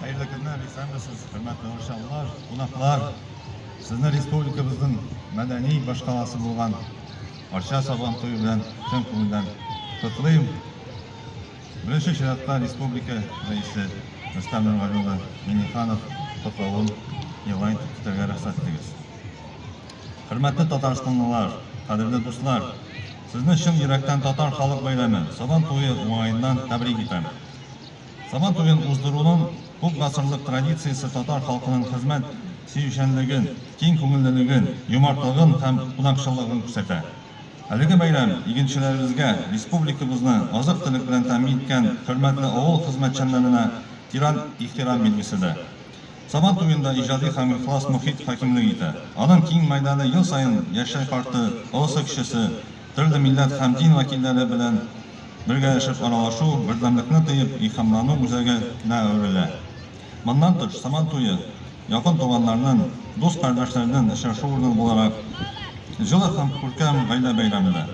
Хәерле көннәр, исәнмесез, хөрмәтле арчалылар, кунаклар. Сезне республикабызның мәдәни башкаласы булган Арча сабан туе белән чын күңелдән котлыйм. Беренче чиратта республика рәисе Рөстәм Нургали улы Миңнеханов котлавын яңа итеп китәргә рөхсәт итегез. Хөрмәтле татарстанлылар, кадерле дуслар, Сезне чын йөрәктән Татар халык бәйрәме, Сабан туе уңаеннан тәбрик итәм. Сабан туен уздыруның күп гасырлык традициясе татар халкының хезмәт сөючәнлеген, киң күңеллелеген, юмартлыгын һәм кунакчыллыгын күрсәтә. Әлеге бәйрәм игенчеләребезгә, республикабызны азык-төлек белән тәэмин иткән хөрмәтле авыл хезмәтчәннәренә тирән ихтирам билгесе дә. Сабан туенда иҗади һәм ихлас мохит хакимлек итә. Аның киң мәйданы ел саен яшьтәй карты, олысы кечесе, төрле милләт һәм дин вәкилләре белән бергәләшеп аралашу, бердәмлекне тоеп илһамлану үзәге нә әверелә. Моннан тыш, Сабан туе якын туганнарнын, дус-кардәшләрнен очрашу урыны буларак, җылы һәм күркәм гаилә бәйрәме дә.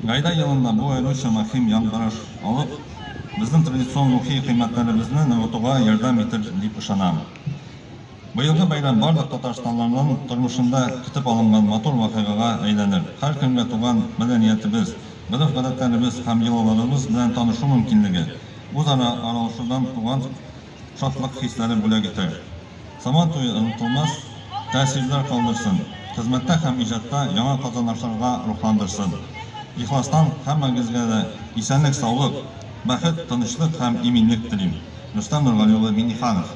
Гайдә елында бу аеруча мөһим яңгыраш алып, безнең традицион рухи кыйммәтләребезне ныгытуга ярдәм итер дип ышанам. Быелгы бәйрәм барлык татарстанлыларның тормышында көтеп алынган матур вакыйгага әйләнер, һәркемгә туган мәдәниятебез, гореф-гадәтләребез һәм йолаларыбыз белән танышу мөмкинлеге, үзара аралашудан туган шатлык хисләре бүләк итә. Сабан туе онытылмас тәэсирләр калдырсын, хезмәттә һәм иҗатта яңа казанышларга рухландырсын. Ихластан һәммәгезгә дә исәнлек-саулык, бәхет, тынычлык һәм иминлек телим. Рөстәм Нургали улы Миңнеханов.